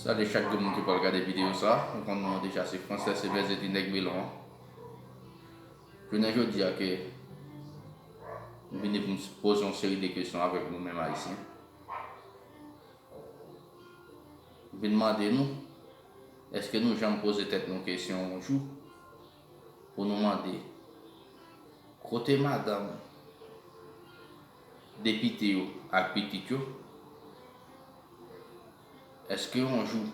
Salye chak 2 moun ki pral gade video sa, ou konn non an deja se Francais Ebenezer di nèg melon an. Jounen jodi a ke m vini pou m poze yon seri de kesyon avèk nou menm Ayisyen. M vin mande nou, eske nou janm poze tèt nou kesyon yon jou pou nou mande kote madanm Depite yo ak pitit yo, èske yon jou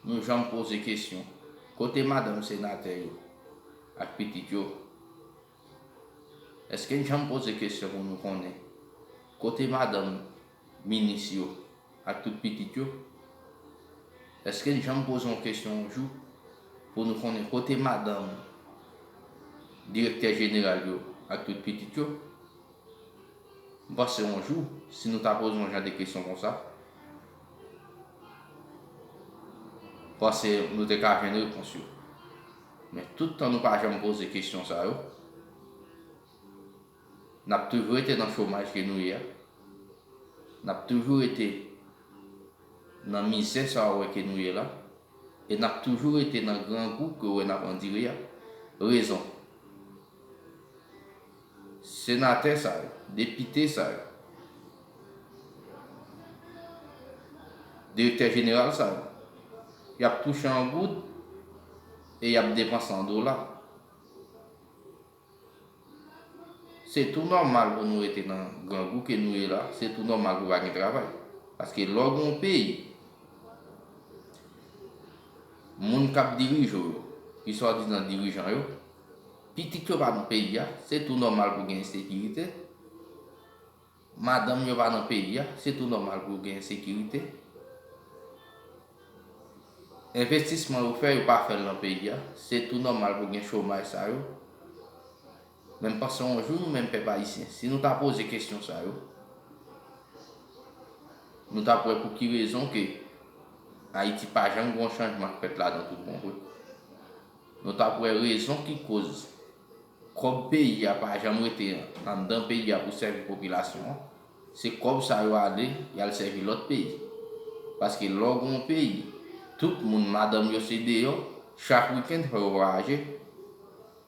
nou janm poze kesyon kote madanm senatè yo ak pitit yo? Èske n janm poze kesyon pou nou konnen kote madanm minis yo ak tout pitit yo? Èske n janm poze yon kesyon yon jou pou nou konnen kote madanm direktè jeneral yo ak tout pitit yo? M panse yon jou, si nou ta poze yon jan de kesyon konsa, m panse nou te ka jwenn repons yo. Men tout tan nou pa janm poze kesyon sa yo, n ap toujou rete nan chomaj ke nou ye a, n ap toujou rete nan mizè sa ou wè ke nou ye la, e n ap toujou rete nan grangou ke ou wè n ap andire a. Rezon, Senatè sa yo, depite sa yo, direktè jeneral sa yo, y ap touche an goud e y ap depanse an dola. Se tou nòmal pou nou rete nan grangou ke nou ye la, se tou nòmal pou pa gen travay. Paske lè w gen yon peyi, moun k ap dirije w yo, ki swadizan dirijan yo, Pitit yo pa nan peyi a, se tou nòmal pou gen ensekirite. Madanm yo pa nan peyi a, se tou nòmal pou gen ensekirite. Envestisman yo fè, yo pa fè l nan peyi a, se tou nòmal pou gen chomaj sa yo. Men m panse yon jou nou menm pèp ayisyen, si nou ta poze kesyon sa yo, nou t ap wè pou ki rezon ke Ayiti pa janm gen yon chanjman k fèt ladan toutbon vre. Nou tap wè rezon ki koz kòb peyi a pa janm rete anndan peyi a pou sèvi popilasyon an, se kòb sa yo ale yal sèvi lòt peyi. Paske lè w gen yon peyi tout moun madanm yo se deyò, chak weekend fò yo vwayaje,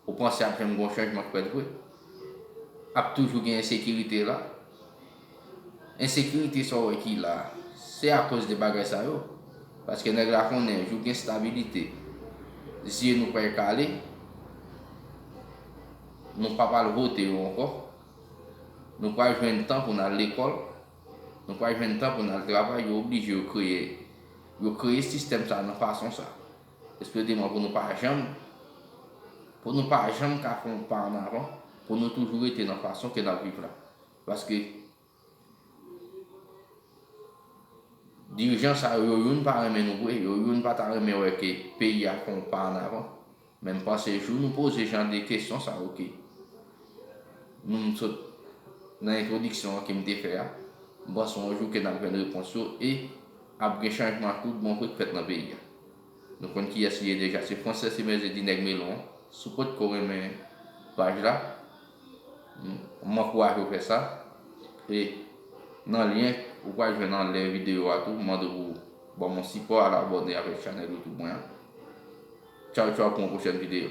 ou panse ap janm gen yon chanjman k fèt vre? Ap toujou gen ensekirite la? Ensekirite sa w wè ki la a, se akoz de bagay sa yo. Paske nèg la konnen jou gen stabilite, zye nou pral kale, nou pap al vote yo ankò, nou pral jwenn tan pou n al lekòl, nou pral jwenn tan pou n al travay, yo oblije yo kreye, yo kreye sistèm sa a nan fason sa a. Espre de mwen pou nou pa janm, pou nou pa janm ka fè yon pa ann avan, pou nou toujou rete nan fason ke n ap viv la. Paske dirijan sa yo, yo youn pa renmen nou vre, yo youn pa ta renmen wè ke peyi a fè yon pa an avan. Men m panse jou nou poze jan de kesyon sa yo ke nou m sot nan entwodiksyon an ke m te fè a, m panse yon jou ke n ap jwenn repons yo e ap gen chanjman tout bon vre k fèt nan peyi a. Nou konn kiyès li ye deja se Frances Emerse di nèg melon si w potko renmen paj la m ankouraje w fè sa e nan lyen ou pral jwenn anlè videyo a tou m mande w pou w ban m yon sipò al abòne avèk chanèl youtube mwen an tchaw tchaw pou yon pwochèn videyo.